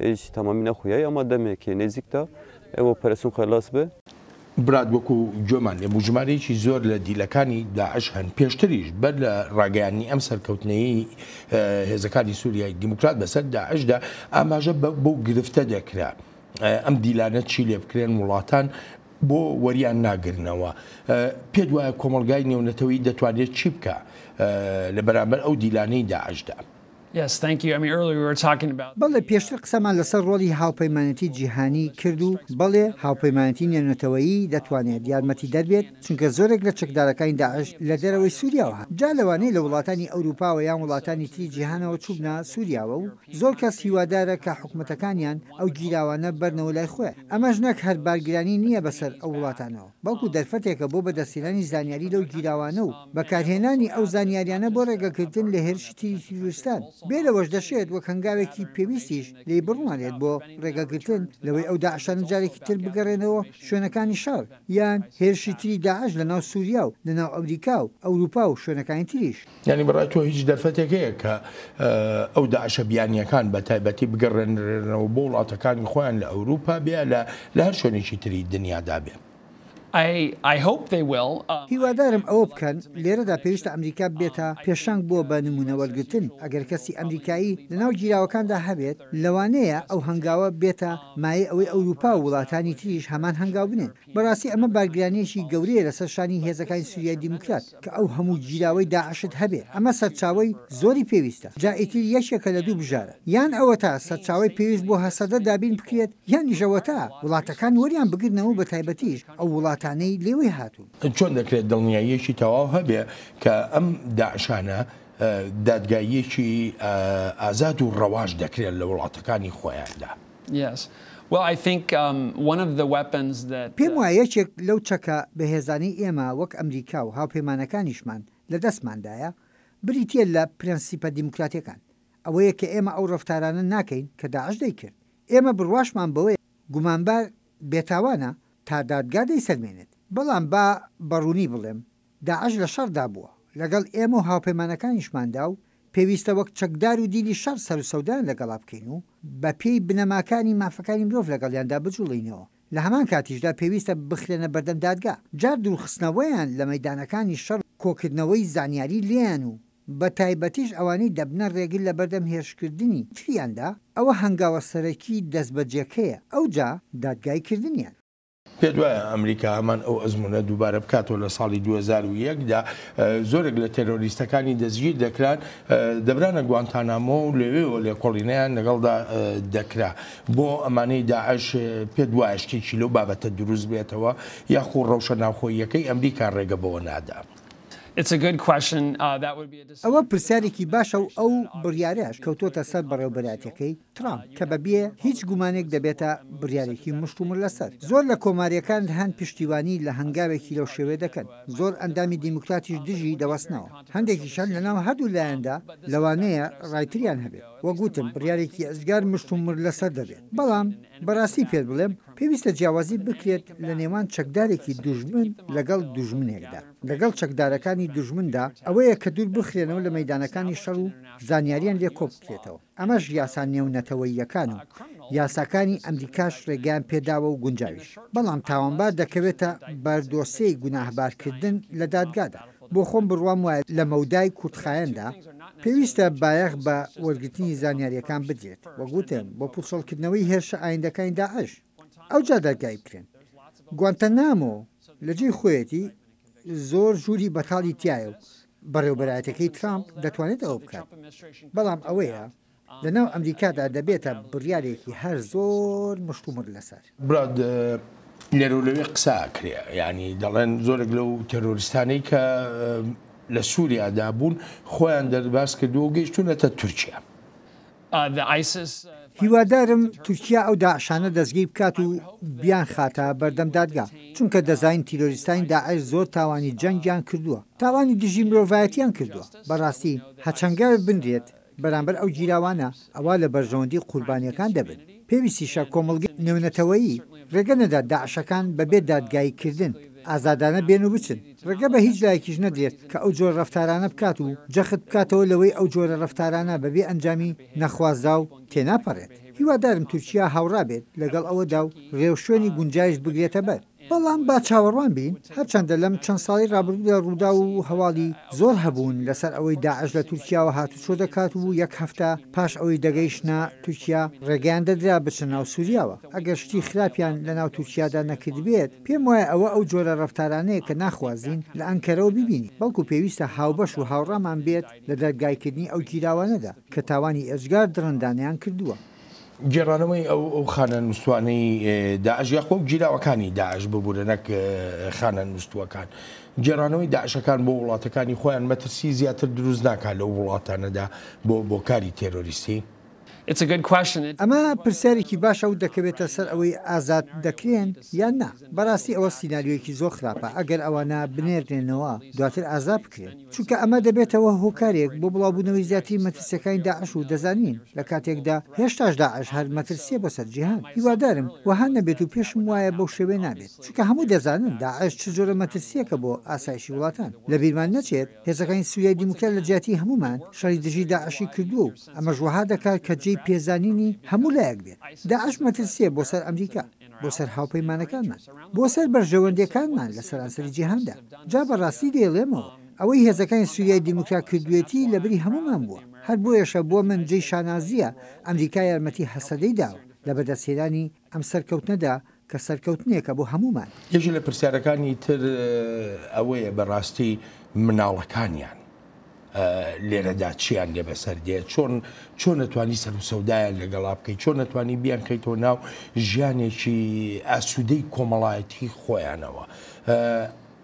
هیچ تەمامی نەخویای ئەما دەمێکێ نێزیکتە ئێوە ئۆپەراسیۆن قەرلاس بێ. برات وەکو گوێمان لێ بوو ژمارەیەکی زۆر لە دیلەکانی داعش هەن، پێشتریش بەر لە ڕاگەیاندنی ئەم سەرکەوتنەیەی هێزەکانی سوریای دیموکرات بەسەر داعشدا ئاماژە بەو گرفتە دەکرا ئەم دیلانە چی لێ بکرێن وڵاتان بۆ وەریان ناگرنەوە، پێت وایە کۆمەڵگای نێونەتەوەیی دەتوانێت چی بکا لە بەرامبەر ئەو دیلانەی داعشدا؟ بەڵێ، پێشتر قسەمان لەسەر ڕۆڵی هاوپەیمانێتی جیهانی کرد و بەڵێ، هاوپەیمانێتی نێونەتەوەیی دەتوانێت یارمەتیدەر بێت، چونکە زۆرێک لە چەکدارەکانی داعش لە دەرەوەی سووریاوە هات، جا لەوانەی لە وڵاتانی ئەوروپاوە یان وڵاتانی تری جیهانەوە چووبنە سووریاوە و زۆر کەس هیوادارە کە حکومەتەکانیان ئەو گیراوانە ببەرنەوە لای خۆیان، ئەمەش نەک هەر بارگرانی نییە بەسەر ئەو وڵاتانەوە. بەڵکو دەرفەتێکە بۆ بەدەستهێنانی زانیاری لەو گیراوانە و بەکارهێنانی ئەو زانیاریانە بۆ ڕێگەگرتن لە هێرشی تری تیرۆریستان، بێ لەوەش دەشێت وەک هەنگاوێکی پێویستیش لێی بڕوانرێت بۆ ڕێگەگرتن لەوەی ئەو داعشانە جارێکی تر بگەڕێنەوە شوێنەکانی شەڕ، یان هێرشی تری داعش لەناو سوریا و لەناو ئەمریکا و ئەوروپا و شوێنەکانی تریش. یانی بەڕای تۆ هیچ دەرفەتێک هەیە کە ئەو داعشە بیانییەکان بە تایبەتی بگەڕێنرێنەوە بۆ وڵاتەکانی خۆیان لە ئەوروپا بێ لە لە هەر شوێنێکی تری دنیادا بێ؟ هیوادارم ئەوە بکەن. لێرەدا پێویستە ئەمریکا بێتە پێشەنگ بۆ بە نموونە وەرگرتن. ئەگەر کەسی ئەمریکایی لە ناو گیراوەکاندا هەبێت، لەوانەیە ئەو هەنگاوە بێتە مایەی ئەوەی ئەوروپا و وڵاتانی تریش هەمان هەنگاو بنێن. بەڕاستی ئەمە بارگرانییەکی گەورەیە لەسەر شانی هێزەکانی سوریای دیموکرات. کە ئەو هەموو گیراوەی داعشت هەبێ ئەمە سەرچاوەی زۆری پێویستە جا ئیتر یەکێکە لە دوو بژارە یان ئەوەتا سەرچاوەی پێویست بۆ هەسەدە دابین بکرێت یانیش ئەوەتا وڵاتەکان وەریان بگرنەوە و بەتایبەتیش ئەو وڵاتانەی لێوەی هاتوون. چۆن دەکرێت دڵنیاییەکی تەواو هەبێ کە ئەم داعشانە دادگاییەکی ئازاد و ڕەواش دەکرێن لە وڵاتەکانی خۆیاندا؟ پێم وایە یەکێک لەو چەکە بەهێزانەی ئێمە وەک ئەمریکا و هاوپەیمانەکانیشمان لە دەستماندایە، بریتییە لە پرەنسیپە دیموکراتییەکان. ئەوەیە کە ئێمە ئەو ڕەفتارانە ناکەین کە داعش دەیکرد. ئێمە بڕواشمان بەوەیە گومانبار بێتاوانە تا دادگا دەیسەلمێنێت. بەڵام با بە ڕوونی بڵێم، داعش لە شەڕدا بووە لەگەڵ ئێمە و هاوپەیمانەکانیشماندا و پێویستە وەک چەکدار و دیلی شەڕ سەر و سەودایان لەگەڵا بکەین و بە پێی بنەماکانی مافەکانی مرۆڤ لەگەڵیاندا بجوڵێینەوە لە هەمان کاتیشدا پێویستە بخرێنە بەردەم دادگا جار دوورخستنەوەیان لە مەیدانەکانی شەڕ و کۆکردنەوەی زانیاری لێیان و بە تایبەتیش ئەوانەی دەبنە ڕێگر لە بەردەم هێرشکردنی تریاندا ئەوە هەنگاوە سەرەکی دەستبەجێکەیە ئەوجا دادگایی کردنیان. پێت وایە ئەمریکا هەمان ئەو ئەزمونە دووبارە بکاتەوە لە ساڵی 2001 دا زۆرێک لە تێرۆریستەکانی دەستگیر دەکران دەبرانە گوانتانامۆ و لەوێەوە لێکۆڵینیان لەگەڵدا دەکرا بۆ ئەمانەی داعش پێت وایە شتێکی لەو بابەتە دروست بێتەوە یاخۆ ڕەوشە ناوخۆیەکەی ئەمریکا ڕێگە بەوە نادا. Uh, ئەوە پرسیارێکی باشە و ئەو بڕیارەش کەوتۆتە سەر بەڕێوبەرایەتیەکەی ترامپ کە بە بێ هیچ گومانێک دەبێتە بریارێکی مشتومڕ لەسەر زۆر لە کۆماریەکان هەن پشتیوانی لە هەنگاوێکی لەو شێوەیە دەکەن زۆر ئەندامی دیموکراتیش دژی دەوەستنەوە هەندێکیش هەن لەناو هەردوو لایەندا لەوانەیە ڕای تریان هەبێت وەک وتم بریارێکی ئێجگار مشتومڕ لەسەر دەبێت بەڵام بەراستی پێت بڵێم پێویستە جیاوازی بکرێت لە نێوان چەکدارێکی دوژمن لەگەڵ دوژمنێکدا لەگەڵ چەکدارەکانی دوژمندا ئەوەیە کە دوور بخرێنەوە لە مەیدانەکانی شەڕ و زانیاریان لێ کۆبکرێتەوە. ئەمەش یاسا نێونەتەوەییەکان و یاساکانی ئەمریکاش ڕێگەیان پێداوە و گونجاویش، بەڵام تاوانبار دەکەوێتە بەر دۆسێی گوناهبارکردن لە دادگادا. بۆ خۆم بڕوام وایە لە مەودای کورتخایەندا پێویستە بایەخ بە وەرگرتنی زانیارییەکان بدرێت، وەک وتم بۆ پوچەڵکردنەوەی هێرشە ئایندەکانی داعش، ئەوجا دادگایی بکرێن. گوانتەنامۆ لە جێی خۆیەتی زۆر ژووری بەتاڵی تیایە و بەڕێوبەرایەتیەکەی ترامپ دەتوانێت ئەوە بکات، بەڵام ئەوەیە لەناو ئەمریکادا دەبێتە بڕیارێکی هەر زۆر مشتومڕ لەسەر. براد لێرەو لەوێ قسە ئەکرێ یانی دەڵێن زۆرێک لەو تێرۆریستانەی کە لە سوریادا بوون خۆیان دەرباز کردووە و گەیشتوونەتە تورکیا. هیوادارم تورکیا ئەو داعشانە دەستگیر بکات و بیانخاتە بەردەم دادگا، چونکە دەزانین تیرۆریستانی داعش زۆر تاوانی جەنگیان کردووە، تاوانی دژی مرۆڤایەتیان کردووە، بەڕاستی هەچەنگە بنرێت بەرامبەر ئەو گیراوانە ئەوا لە بەرژەوەندی قوربانیەکان دەبن، پێویستیشە کۆمەڵگەی نێونەتەوەیی ڕێگە نەدات داعشەکان بەبێ دادگایی کردن. ئازادانە بێن و بچن، ڕێگە بە هیچ لایەکیش نەدرێت کە ئەو جۆرە ڕەفتارانە بکات و جەخت بکاتەوە لەوەی ئەو جۆرە ڕەفتارانە بە بێ ئەنجامی نەخوازراو تێناپەڕێت. هیوادارم تورکیا هاوڕا بێت لەگەڵ ئەوەدا و ڕێوشوێنی گونجایش بگرێتە بەر. بەڵام با چاوەڕوان بین، هەرچەندە لەم چەند ساڵەی ڕابردوودا ڕووداو و هەواڵی زۆر هەبوون لەسەر ئەوەی داعش لە تورکیاوە هاتوچۆ دەکات و یەک هەفتە پاش ئەوەی دەگەیشتنە تورکیا ڕێگەیان دەدرا بچنە ناو سوریاوە ئەگەر شتی خراپیان لە ناو تورکیادا نەکردبێت، پێم وایە ئەوە ئەو جۆرە ڕەفتارانەیە کە ناخوازین لە ئەنکەرەوە ببینین، بەڵکو پێویستە هاوبەش و هاوڕامان بێت لە دەرگایکردنی ئەو گیراوانەدا کە تاوانی ئێجگار دڕندانەیان کردووە. گێڕانەوەی ئەو خانەنوستوانەی داعش یاخۆ ئەو گیراوەکانی داعش، ببورە نەک خانەنوستوەکان، گێڕانەوەی داعشەکان بۆ وڵاتەکانی خۆیان مەترسی زیاتر دروست ناکات لەو وڵاتانەدا بۆ کاری تێرۆریستی؟ ئەمە پرسیارێکی باشە و دەکەوێتە سەر ئەوەی ئازاد دەکرێن یان نا. بەڕاستی ئەوە سیناریۆیەکی زۆر خراپە ئەگەر ئەوانە بنێرنێنەوە دواتر ئازاد بکرێن، چونکە ئەمە دەبێتەوە هۆکارێک بۆ بڵاوبوونەوەی زیاتری مەترسیەکانی داعش و دەزانین لە کاتێکدا هێشتاش داعش هەر مەترسیە بۆ سەر جیهان. هیوادارم وەها نەبێت و پێشم وایە بەو شێوەیە نابێت، چونکە هەموو دەزانن داعش چ جۆرە مەترسیەکە بۆ ئاسایشی وڵاتان. لەبیرمان نەچێت هێزەکانی سوریای دیموکرات لە جیاتی هەموومان شەڕی دژی داعشی کردووە و ئەمەش وەها دەکات کە جێی پێزانینی هەموو لایەک بێت. داعش مەترسییە بۆ سەر ئەمریکا، بۆ سەر هاوپەیمانەکانمان، بۆ سەر بەرژەوەندییەکانمان لە سەرانسەری جیهاندا. جا بە ڕاستی دەیڵێمەوە، ئەوەی هێزەکانی سووریای دیموکرات کردوویەتی لە بری هەموومان بووە. هەر بۆیەشە بۆ من جێی شانازییە ئەمریکا یارمەتی هەسەدەی داوە لە بەدەستهێنانی ئەم سەرکەوتنەدا کە سەرکەوتنێکە بۆ هەموومان. یەکێک لە پرسیارەکانی تر ئەوەیە بەڕاستی مناڵەکانیان لێرەدا چیان لێ بەسەر دێت، چۆن چۆن ئەتوانی سەروسەودایان لەگەڵا بکەیت، چۆن ئەتوانی بیانخەیتەوە ناو ژیانێکی ئاسوودەی کۆمەڵایەتی خۆیانەوە،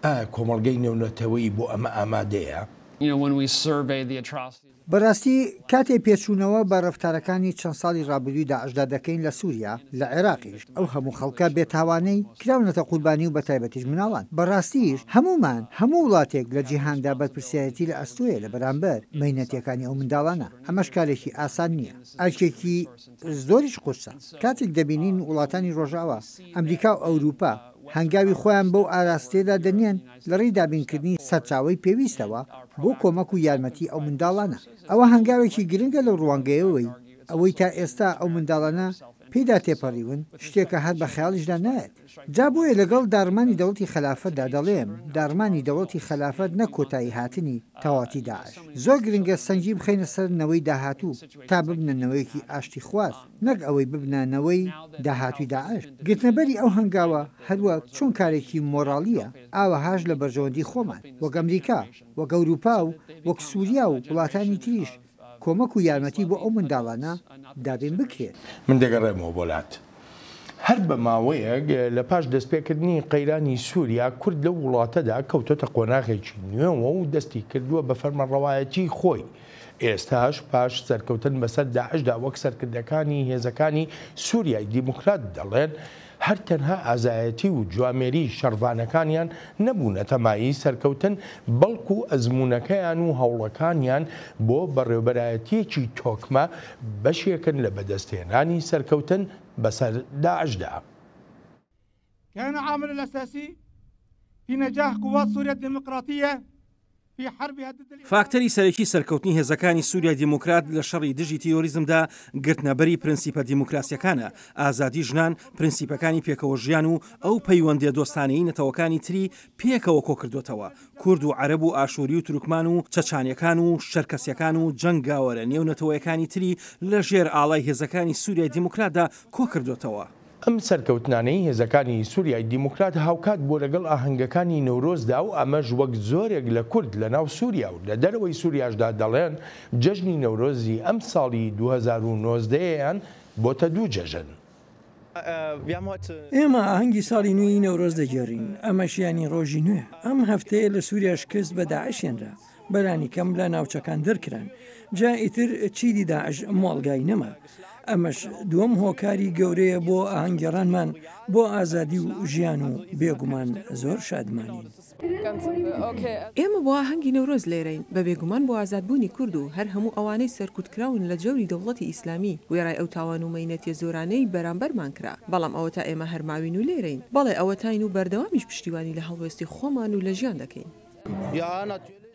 ئایا کۆمەڵگەی نێونەتەوەیی بۆ ئەمە ئامادەیە؟ بەراستی کاتێ پێچوونەوە بە رەفتارەکانی چەند ساڵی رابردووی داعشدا دەکەین لە سوریا، لە عێراقیش ئەو هەموو خەڵکە بێ تاوانەی کراونەتە قوربانی و بەتایبەتیش مناڵان، بەراستیش هەموومان، هەموو وڵاتێک لە جیهاندا بەرپرسیارێتی لە ئەستۆیە لە بەرامبەر مەینەتیەکانی ئەو منداڵانە، ئەمەش کارێکی ئاسان نیە، ئەرکێکی زۆریش قورسە، کاتێک دەبینین وڵاتانی رۆژئاوا، ئەمریکا و ئەوروپا هەنگاوی خۆیان بەو ئاراستەیەدا دەنێن، لە ڕێی دابینکردنی سەرچاوەی پێویستەوە بۆ کۆمەک و یارمەتی ئەو منداڵانە. ئەوە هەنگاوێکی گرنگە لەو ڕوانگەیەوەی ئەوەی تا ئێستا ئەو منداڵانە پێیدا تێپەڕیون شتێکە هەر بە خەیاڵیشدا نایەت. جا بۆیە لەگەڵ داڕمانی دەوڵەتی خەلافەتدا دەڵێم داڕمانی دەوڵەتی خەلافەت نەک کۆتایی هاتنی تەواوەتی داعش. زۆر گرنگە سەنگی بخەینە سەر نەوەی داهاتوو تا ببنە نەوەیەکی ئاشتیخواز. نەک ئەوەی ببنە نەوەی داهاتووی داعش. گرتنەبەری ئەو هەنگاوە هەروەک چۆن کارێکی مۆڕاڵییە، ئاوەهاش لە بەرژەوەندی خۆمان، وەک ئەمریکا، وەک ئەوروپا و وەک سوریا و وڵاتانی تریش، کۆمەک و یارمەتی بۆ ئەو منداڵانە دابین بکرێت. من دەگەڕێمەوە بۆ لات. هەر بە ماوەیەک لە پاش دەستپێکردنی قەیرانی سوریا، کورد لەو وڵاتەدا کەوتۆتە قۆناغێکی نوێوە و دەستی کردووە بە فەرمانڕەوایەتیی خۆی، ئێستاش پاش سەرکەوتن بەسەر داعشدا وەک سەرکردەکانی هێزەکانی سوریای دیموکرات دەڵێن، هەر تەنها ئازایەتی و جوامێری شەڕڤانەکانیان نەبوونەتە مایەی سەرکەوتن، بەڵکو ئەزموونەکەیان و هەوڵەکانیان بۆ بەڕێوبەرایەتیەکی تۆکمە بەشێکن لە بەدەستهێنانی سەرکەوتن بەسەر داعشدا. كان عامل الأساسي في نجاح قوات سوريا الديمقراطية في حربها ضد الإرهاب فاکتەری سەرەکی سەرکەوتنی هێزەکانی سوریای دیموکرات لە شەڕی دژی تیرۆریزمدا گرتنەبەری پرەنسیپە دیموکراسییەکانە، ئازادی ژنان، پرەنسیپەکانی پێکەوە ژیان و ئەو پەیوەندییە دۆستانەیی نەتەوەکانی تری پێکەوە کۆکردۆتەوە، کورد و عەرەب و ئاشووری و تورکمان و چەچانیەکان و شەرکەسیەکان و جەنگاوەرە نێونەتەوەیەکانی تری لە ژێر ئاڵای هێزەکانی سوریای دیموکراتدا کۆکردۆتەوە. ئەم سەرکەوتنانەی هێزەکانی سوریای دیموکرات هاوکات بووە لەگەڵ ئاهەنگەکانی نەورۆزدا و ئەمەش وەک زۆرێک لە کورد لەناو سوریا و لە دەرەوەی سوریاشدا دەڵێن جەژنی نەورۆزی ئەمساڵی دوو هەزار و نۆزدە یان بۆتە دوو جەژن. ئێمە ئاهەنگی ساڵی نوێی نەورۆز دەگێڕین، ئەمەش یانی ڕۆژی نوێ. ئەم هەفتەیە لە سوریا شکست بە داعش هێنرا. بەلانی کەم لە ناوچەکان دەرکران جا ئیتر چیدی داعش مۆڵگای نەما ئەمەش دووەم هۆکاری گەورەیە بۆ ئاهەنگگێڕانمان بۆ ئازادی و ژیان و بێگومان زۆر شادمانین. ئێمە بۆ ئاهەنگی نەورۆز لێرەین بە بێگومان بۆ ئازادبوونی کورد و هەر هەموو ئەوانەی سەرکوتکراون لە جەوری دەوڵەتی ئیسلامی وێڕای ئەو تاوان و مەینەتیە زۆرانەی بەرامبەرمان کرا بەڵام ئەوەتا ئێمە هەر ماوین و لێرەین بەڵێ ئەوەتاین و بەردەوامیش پشتیوانی لە هەڵوێستی خۆمان و لە ژیان دەکەین.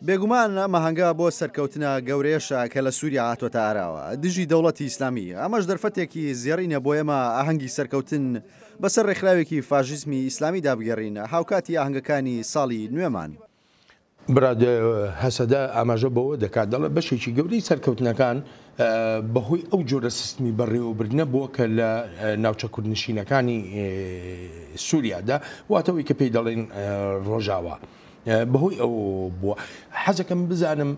بێگومان ئەم ئاهەنگە بۆ سەرکەوتنە گەورەیەشە کە لە سووریا هاتووەتە ئاراوە دژی دەوڵەتی ئیسلامی، ئەمەش دەرفەتێکی زێڕینە بۆ ئێمە ئاهەنگی سەرکەوتن بەسەر ڕێکخراوێکی فاشیزمی ئیسلامیدا بگێڕین هاوکاتی ئاهەنگەکانی ساڵی نوێمان. براد هەسەدە ئاماژە بەوە دەکات، دەڵێت بەشێکی گەورەی سەرکەوتنەکان، بەهۆی ئەو جۆرە سیستمی بەڕێوەبردنە بووە کە لە ناوچە کوردنشینەکانی سووریادا واتەوەی کە پێی دەڵێن ڕۆژاوا. بەهۆی ئەو بووە حەزەکەم بزانم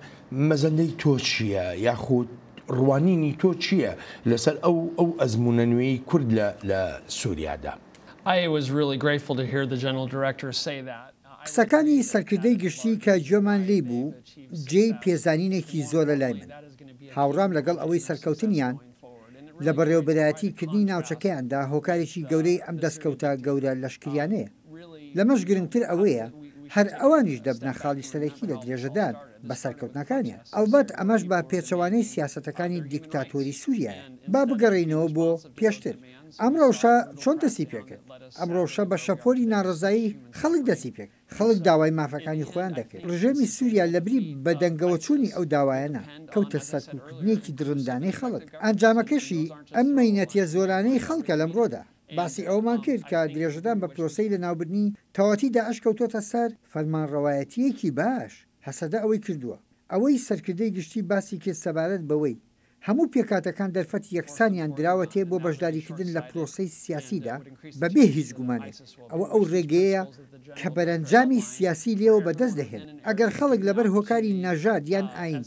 مەزەندەی تۆ چییە یاخود ڕوانینی تۆ چییە لەسەر ئەو ئەو ئەزمونە نوێی کورد لە سووریادا؟ قسەکانی سەرکردەی گشتی کە گوێمان لێی بوو جێی پێزانینێکی زۆرە لای من. هاوڕام لەگەڵ ئەوەی سەرکەوتنیان لە بەڕێوەبەرایەتی کردنی ناوچەکەیاندا هۆکارێکی گەورەی ئەم دەستکەوتە گەورە لەشکریانەیە. لەمەش گرنگتر ئەوەیە هەر ئەوانیش دەبنە خاڵی سەرەکی لە درێژەدان بە سەرکەوتنەکانیان. ئەڵبەت ئەمەش بە پێچەوانەی سیاسەتەکانی دیکتاتۆری سوریایە. با بگەڕێینەوە بۆ پێشتر. ئەم رەوشە چۆن دەستی پێکرد؟ ئەم رەوشە بە شەپۆلی ناڕەزایی خەڵک دەستی پێکرد. خەڵک داوای مافەکانی خۆیان دەکرد. رژێمی سووریا لە بری بەدەنگەوەچوونی ئەو داوایانە، کەوتە سەرکوتکردنێکی دڕندانەی خەڵک. ئەنجامەکەشی ئەم مەینەتیە زۆرانەی خەڵکە لەمڕۆدا. باسی ئەوەمان کرد کە درێژەدان بە پرۆسەی لەناوبردنی تەواتی داعش کەوتۆتە سەر فەرمانڕەوایەتییەکی باش. هەسەدە ئەوەی کردووە. ئەوەی سەرکردەی گشتی باسی کرد سەبارەت بەوەی هەموو پێکهاتەکان دەرفەتی یەکسانیان دراوەتێ بۆ بەشداریکردن لە پرۆسەی سیاسیدا، بەبێ هیچ گومانێک، ئەوە ئەو رێگەیەیە کە بەرەنجامی سیاسی لێوە بەدەست دەهێنن. ئەگەر خەڵک لەبەر هۆکاری نەژاد یان ئایین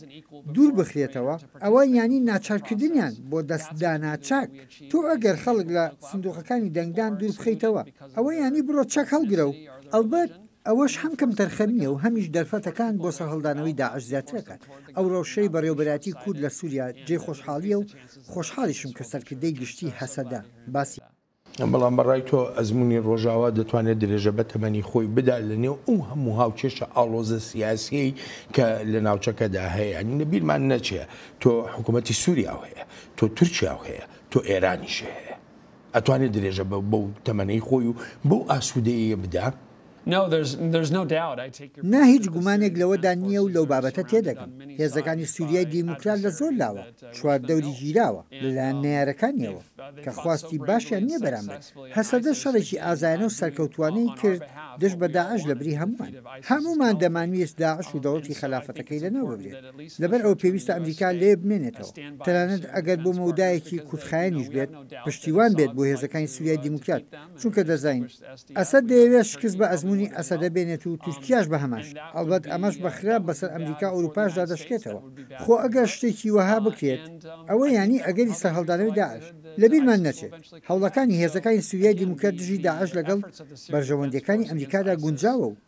دوور بخرێتەوە، ئەوە یانی ناچارکردنیان بۆ دەست دانە چەک. تۆ ئەگەر خەڵک لە سندوقەکانی دەنگدان دوور بخەیتەوە، ئەوە یانی بڕۆ چەک هەڵگرە و ئەڵبەت ئەوەش هەم کەمتەرخەم نییە و هەمیش دەرفەتەکان بۆ سەرهەڵدانەوەی داعش زیاتر ئەکات. ئەو رەوشەی بەڕێوەبەرایەتی کورد لە سووریا جێی خۆشحاڵییە و خۆشحاڵیشم کە سەرکردەی گشتیی هەسەدە باسی. بەڵام بە ڕای تۆ ئەزموونی ڕۆژاوا دەتوانێت درێژە بە تەمەنی خۆی بدات لە نێو ئەو هەموو هاوکێشە ئاڵۆزە سیاسیەی کە لە ناوچەکەدا هەیە یانی لە بیرمان نەچێ تۆ حکوومەتی سووریاو هەیە تۆ تورکیاو هەیە تۆ ئێرانیشی هەیە. ئەتوانێ درێژە بەو تەمەنەی خۆی و بەو ئاسوودەییە بدا؟ نا، هیچ گومانێک لەوەدا نییە و لەو بابەتە تێدەگەم. هێزەکانی سووریای دیموکرات لە زۆر لاوە چواردەوری گیراوە لەلایەن نەیارەکانییەوە، کە خواستی باشیان نییە بەرامبەر هەسەدە. شەڕێکی ئازایانە و سەرکەوتووانەی کرد دژ بە داعش لەبری هەمووان. هەموومان دەمانویست داعش و دەوڵەتی خەلافەتەکەی لەناو ببرێت، لەبەر ئەوە پێویستە ئەمریکا لەوێ بمێنێتەوە، تەنانەت ئەگەر بۆ مەودایەکی کورتخایەنیش بێت. پشتیوان بێت بۆ هێزەکانی سوریای دیموکرات، چونکە دەزانین ئەسەد دەیەوێت شکست بە ئەزموونی ئەسەدە بێنێت و تورکیاش بە هەمانشێوە، ئەڵبەت ئەمەش بە خراپ بەسەر ئەمریکا و ئەوروپاشدا دەشکێتەوە، خۆ ئەگەر شتێکی وەها بکرێت ئەوە یانی ئەگەری سەرهەڵدانەوەی داعش لەبیرمان نەچێت، هەوڵەکانی هێزەکانی سوریای دیموکرات دژی داعش لەگەڵ بەرژەوەندییەکانی ئەمریکادا گونجاوە و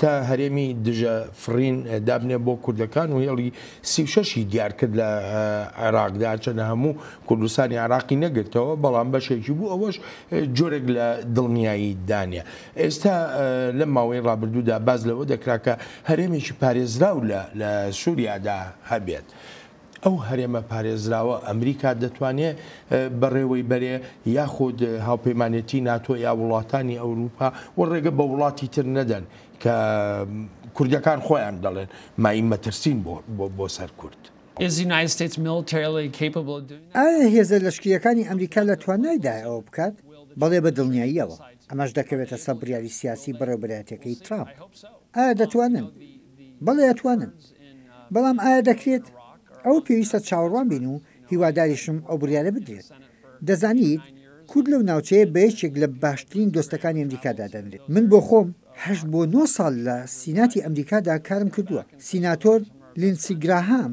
تا هەرێمی دژە فڕین دابنێ بۆ کوردەکان و هێڵی سی و شەش ی دیار کرد لە عێراقدا هەرچەندە هەموو کوردستانی عێراقی نەگرتەوە بەڵام بەشێکی بوو ئەوەش جۆرێک لە دڵنیایی دانە ئێستا لەم ماوەی ڕابردوودا باس لەوە دەکرا کە هەرێمێکی پارێزراو لە سوریادا هەبێت ئەو هەرێمە پارێزراوە ئەمریکا دەتوانێ بەڕێوەی بەرێ یاخود هاوپەیمانێتی ناتۆ یا وڵاتانی ئەوروپا و ڕێگە بە وڵاتی تر نەدەن کە کوردەکان خۆیان دەڵێن مایەی مەترسین بۆ سەر کورد. ئایا هێزە لەشکرییەکانی ئەمریکا لە توانایدایە ئەوە بکات؟ بەڵێ بە دڵنیاییەوە. ئەمەش دەکەوێتە سەر بڕیاری سیاسی بەڕێوەبەرایەتیەکەی ترامپ. ئایا دەتوانن؟ بەڵێ ئەتوانن، بەڵام ئایا دەکرێت؟ ئەوە پێویستە چاوەڕوان بین و هیواداریشم ئەو بڕیارە بدرێت. دەزانیت، کورد لەو ناوچەیە بە یەکێک لە باشترین دۆستەکانی ئەمریکا دادەنرێت. من بۆ خۆم هەشت بۆ نۆ ساڵ لە سیناتی ئەمریکادا کارم کردووە. سیناتۆر لیندسی گراهام.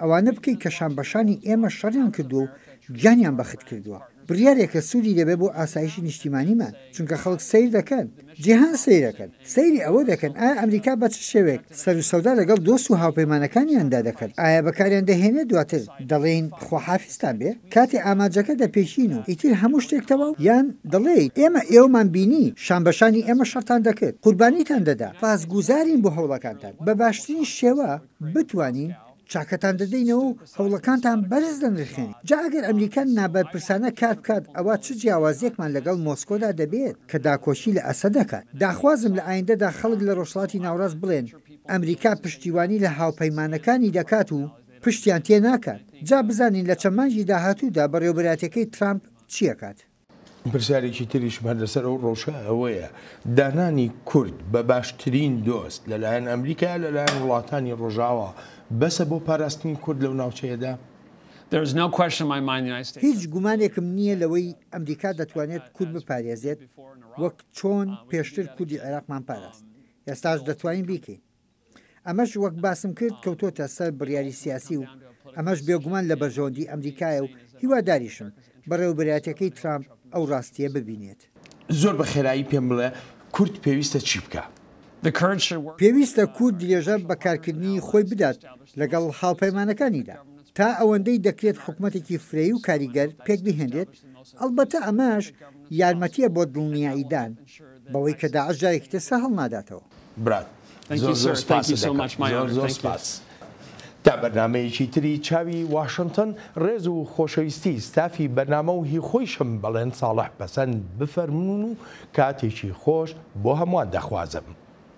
ئەوانە بکەی کە شانبەشانی ئێمە شەڕیان کردووە و گیانیان بەخت کردووە بڕیارێکە سوودی لێبێ بۆ ئاسایشی نیشتیمانیمان چونکە خەڵک سەیر دەکەن جیهان سەیرەکەن سەیری ئەوە دەکەن ئایا ئەمریکا بە چ شێوەیەک سەرو سەودا لەگەڵ دۆست و هاوپەیمانەکانیاندا دەکەن ئایا بەکاریان دەهێنێ دواتر دەڵێین خواحافیزتان بێ کاتێ ئامانجەکە دەپێکین و ئیتر هەموو شتێک تەواو یان دەڵێیت ئێمە ئێوەمان بینی شانبەشانی ئێمە شەڕتان دەکرد قوربانیتان دەدا سپاسگوزارین بۆ هەوڵەکانتان بە باشترین شێوە. بتوانین چاکەتان دەدەینەوە و هەوڵەکانتان بەرز دەنرخێنین، جا ئەگەر ئەمریکا نابەرپرسانە کار بکات ئەوا چ جیاوازیەکمان لەگەڵ مۆسکۆدا دەبێت کە داکۆکی لە ئەسەد دەکات؟ داخوازم لە ئایندەدا خەڵک لە ڕۆژهەڵاتی ناوەڕاست بڵێن ئەمریکا پشتیوانی لە هاوپەیمانەکانی دەکات و پشتیان تێناکات، جا بزانین لە چەند مانگی داهاتوودا بەڕێوەبەرایەتیەکەی ترامپ چیەکات. پرسیارێکی تریشم هەر لەسەر ئەو ڕەوشە ئەوەیە دانانی کورد بە باشترین دۆست لەلایەن ئەمریکا لەلایەن وڵاتانی ڕۆژاوا بەسە بۆ پاراستنی کورد لەو ناوچەیەدا؟ هیچ گومانێکم نییە لەوەی ئەمریکا دەتوانێت کورد بپارێزێت وەک چۆن پێشتر کوردی عێراقمان پاراست ئێستاش دەتوانین بیکەین. ئەمەش وەک باسم کرد کەوتۆتە سەر بڕیاری سیاسی و ئەمەش بێگومان لە بەرژەوەندی ئەمریکایە و هیواداریشم بەڕێوەبەرایەتیەکەی ترامپ ئەو ڕاستیە ببینێت. زۆر بە خێرایی پێم بڵێ کورد پێویستە چی بکا؟ پێویستە کورد درێژە بە کارکردنی خۆی بدات لەگەڵ هاوپەیمانەکانیدا تا ئەوەندەی دەکرێت حکومەتێکی فرەیی و کاریگەر پێکبهێنرێت، ئەڵبەتە ئەمەش یارمەتیە بۆ دڵنیاییدان بەوەی کە داعش جارێکی تر سەر هەڵناداتەوە. برات زۆر زۆر سپاست دەکەم زۆر زۆر سپاس. تا بەرنامەیەکی تری چاوی واشنتن ڕێز و خۆشەویستی ستافی بەرنامە و هی خۆیشم بەڵێن ساڵح پەسەند بفەرموون و کاتێکی خۆش بۆ هەمووان دەخوازم.